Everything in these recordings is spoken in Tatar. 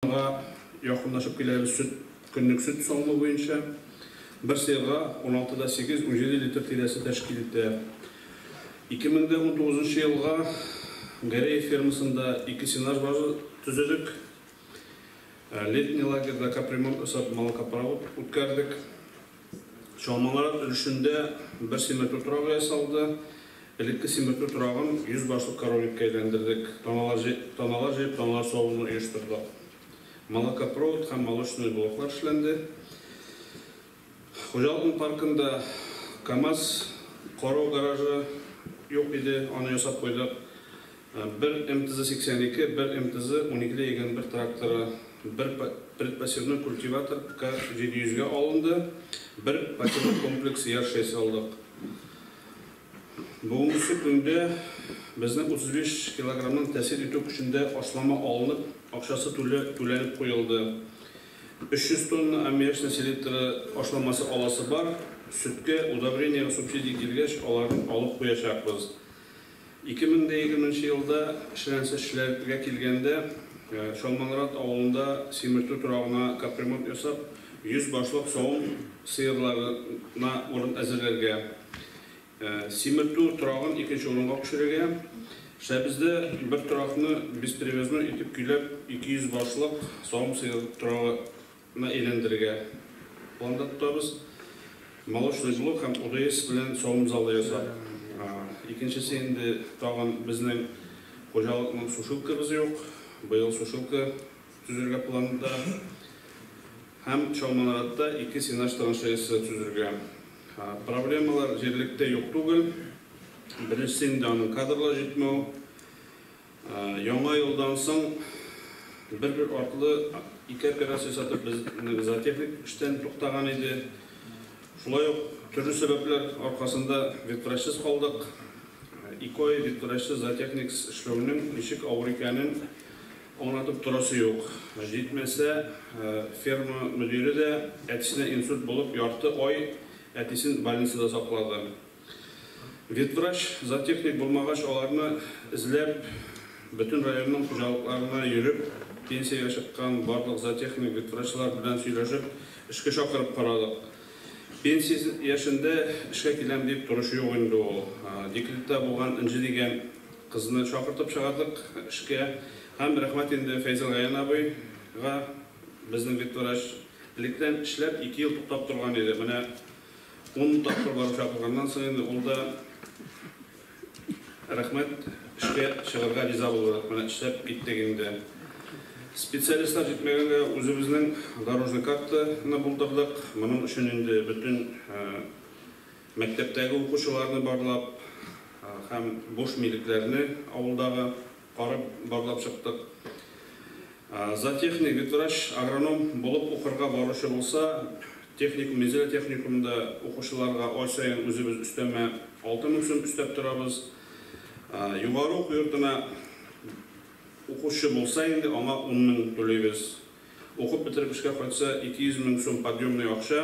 Аңа якынлашып киләбез сөт, көнлек сөт савымы буенча. Бер сыерга уналты да сигез, унҗиде литр тирәсе тәшкил итә. Ике мең дә унтугызынчы елга Гореев фермасында ике сенаж база төзедек. Летний лагерьда капремонт ясап, малокопровод үткәрдек. Чалмалар өлешендә бер симертү торагы ясалды. Элекке симертү торагын йөз башлы корольлеккә әйләндердек. Таналар җыеп, таналар җыеп, таналар савуны оештырдык. Молокопровод һәм молочный блоклар эшләнде. Хуҗалыкның паркында КАМАЗ карау гаражы юк иде, аны ясап куйдык. Бер МТЗ 82, бер МТЗ уникедә йөгән бер тракторы, бер предпосевной культиватор К 700 гә алынды, бер патерлы комплекс яр шәйсе алдык. Бүгенге көндә безнең 35 килограмның тәэсир итү көчендә ашлама алынып, акчасы түле түләнеп куелды. 300 тонна аммиачной селитры ашламасы аласы бар, сөткә, удобрениегә субсидия килгәч, аларны алып куячакбыз. Ике мең дә егерменче елда, челәнсешчеләргә килгәндә, Чалманрат авылында симертү торагына капремонт ясап, 100 башлык савым сыерларына урын әзерләргә, симертү торагын икенче урынга күчерергә, Шәбездә бер торакны бесперевозной итеп көйләп 200 башлык савым сыер торагы ны әйләндерергә план да тотабыз. Молочный блок һәм ОДС белән савым залы ясап, икенчесе инде тагын безнең хуҗалыкның сушилкабыз юк, быел сушилка төзергә планда. Һәм Чалманаратта ике сенаж траншеясы төзергә. Проблемалар җирлектә юк түгел. Беренчесе инде аның кадрлар җитмәү. Яңа елдан соң бер-бер артлы ике операция сатып безнең зоотехник эштән туктаган иде. Шулай ук төрле сәбәпләр аркасында ветврачсыз калдык. Ике ай ветврачсыз зоотехниксыз эшләүнең ничек авыр икәнен аңлатып торасы юк. Җитмәсә, ферма мөдире дә әтисенә инсульт булып ярты ай әтисен больницада саклады. Ветврач, зоотехник булмагач, аларны эзләп, бөтен районның хуҗалыкларына йөреп, пенсиягә чыккан барлык зоотехник, ветврачлар белән сөйләшеп, эшкә чакырып карадык. Пенсия яшендә эшкә киләм дип торучы юк инде ул. Декретта булган Энҗе дигән кызны чакыртып чыгардык эшкә. Һәм рәхмәт инде Фәйзелгаян абыйга, безнең ветврач. Электән эшләп, ике ел туктап торган иде. Менә. Ун тапкыр барып чакырганнан соң инде ул да рәхмәт, эшкә чыгарга риза булды. Менә эшләп киттек инде. Специалистлар җитмәгәнгә үзебезнең дорожный картаны булдырдык. Моның өчен инде бөтен мәктәптәге укучыларны барлап һәм буш милекләрне авылдагы Барып барлап чыктык. Зоотехник, ветврач, агроном булып укырга баручы булса, техникум, Минзәлә техникумында укучыларга ай саен үзебез өстәмә 6000 сум өстәп торабыз. Югары уку йортына укучы булса инде, аңа 10000 түлибез. Укып бетереп эшкә кайтса, 200 мең сум подъемный акча.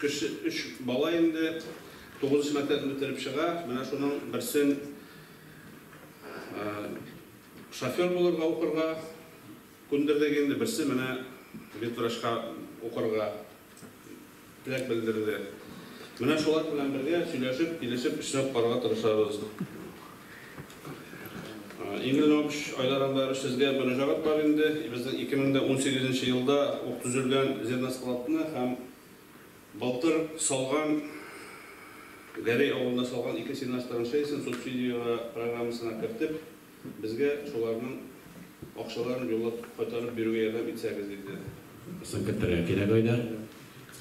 Кече өч бала инде тугызынчы мәктәпне бетереп чыга, менә шуның берсен шофер булырга укырга күндердек инде, берсе менә ветврачка укырга теләк белдерде. Менә шулар белән бергә сөйләшеп, килешеп эшләп карарга тырышабыз. Игорь Львович, Айдар Андарович, сезгә мөрәҗәгать бар инде. Безнең 2018 нче елда ук төзелгән зерноскладны һәм былтыр салган, Гәрәй авылында салган ике сеннозтраншеясен субсидияләү программасына кертеп, безгә шуларның акчаларын юллап кайтарып бирүгә ярдәм итсәгез, диде. Соң кертергә кирәк, Айдар.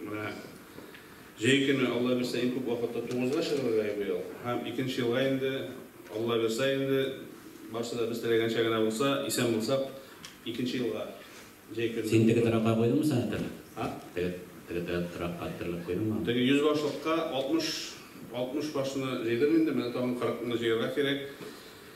Менә җәй көне Алла бирсә иң күп вакытта тугызга чыгырга йөри ул. Һәм икенче елга инде Алла бирсә инде барсы да без теләгәнчә генә булса, исән булсак, икенче елга җәй көне. Син теге торакка куйдыңмы соң хәтер? А? Теге теге торакка хәтерләп куйдыңмы? Теге йөз башлыкка алтмыш алтмыш башны җыйдым инде, менә тагын кырыкны җыярга кирәк.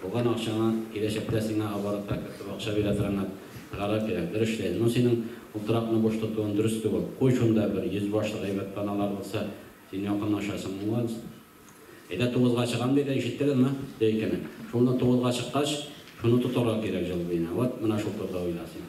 Булган акчаңа киләчәктә сиңа оборотка кертеп акча бирә торган гарап кирәк. Дөрес эшләй. Ну синең утракны буш тотуың дөрес түгел. Куй шунда бер йөз башлы гайбәт паналар булса, син якынлашасың аңа. Әйдә тугызга чыгам диде, ишеттегезме? Ди икене. Шунда тугызга чыккач, шуны тотарга кирәк җылбыйны. Вот менә шул турыда уйла син.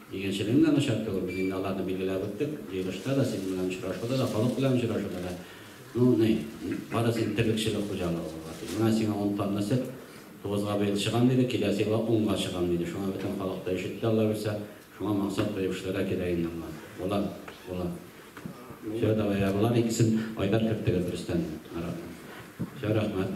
Игенчелегнең дә начар түгел, без инде аларны билгеләп үттек. Җыелышта да, сезнең белән очрашуда да, халык белән очрашуда да. Ну, ни, бары син терлекчелек хуҗалыгы булган син. Менә сиңа ун тонна сөт, тугызга быел чыгам диде, киләсе елга унга чыгам диде. Шуңа бөтен халык та өшетте, Аллабирса. Шуңа максат куеп эшләргә кирәк инде аңа. Була, була. Все, давай, ә болар икесен Айдар кертегез, Рөстәмне, Маратны. Все, рәхмәт.